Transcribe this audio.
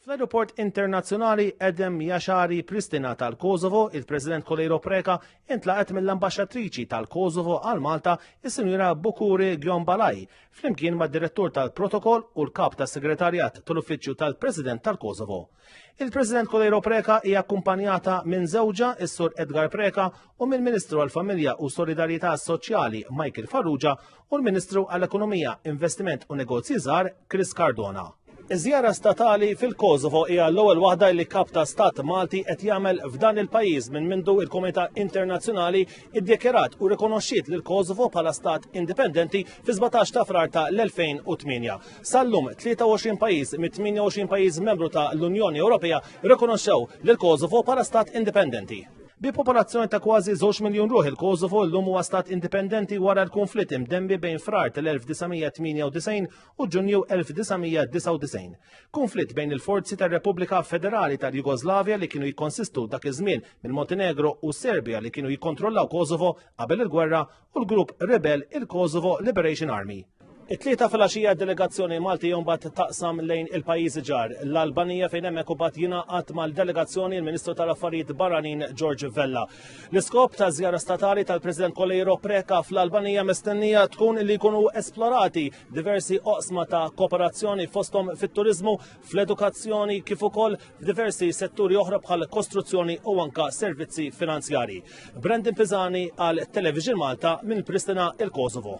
Fl-Ajruport Internazzjonali Edem Jaxari Pristina tal-Kosovo, il-President Kolejro Preka intlaqet mill-Ambaxxatriċi tal-Kosovo għal Malta, is-Sinjura Bukuri Gjombalaj, flimkien mad-Direttur tal-Protokoll u l-Kap tas-Segretarjat tal-Uffiċċju tal-President tal-Kosovo. Il-President Kolejro Preka hija akkumpanjata minn żewġa is-Sur Edgar Preka u mill-Ministru għall-Familja u Solidarjetà Soċjali Michael Farrugia u l-Ministru għall-Ekonomija, Investiment u Negozji Żgħar Chris Cardona. Iż-żjara statali fil-Kosovo hija l-ewwel waħda li kap ta' stat Malti qed jagħmel f'dan il-pajjiż minn mindu il-Komunità Internazzjonali iddikjarat u rikonoxxiet lil Kosovo bħala stat indipendenti fi 17 ta' frar ta' l-2008. Sallum 23 pajjiż mit 28 pajjiż membru ta' l-Unjoni Ewropea rikonoxxew lil Kosovo bħala stat indipendenti. Bi popolazzjoni ta' kważi 2 miljun ruħ il-Kosovo llum huwa stat indipendenti wara l-konflitt imdembi bejn frar tal-1998 u Ġunju 1999. Konflitt bejn il-forzi tar-Repubblika Federali tal-Jugoslavja li kienu jikkonsistu dak iż-żmien mill-Montenegro u Serbja li kienu jikkontrollaw Kosovo qabel il-gwerra u l-grupp rebel il-Kosovo Liberation Army. It-tlieta fil-għaxija delegazzjoni Malti jombat taqsam lejn il-pajjiżi ġar. L-Albanija fejn hemmhekk imbagħad jingħaqad mal-delegazzjoni l-Ministru tal-Affarijiet Barranin George Vella. L-iskop ta' żjara statali tal-President Kolejro Preka fl-Albanija mistennija tkun li jkunu esplorati diversi oqsma ta' kooperazzjoni fosthom fit-turizmu fl-edukazzjoni kif ukoll f'diversi setturi oħra bħal kostruzzjoni u anka servizzi finanzjari. Brandon Pisani għal Television Malta minn Pristina il-Kosovo.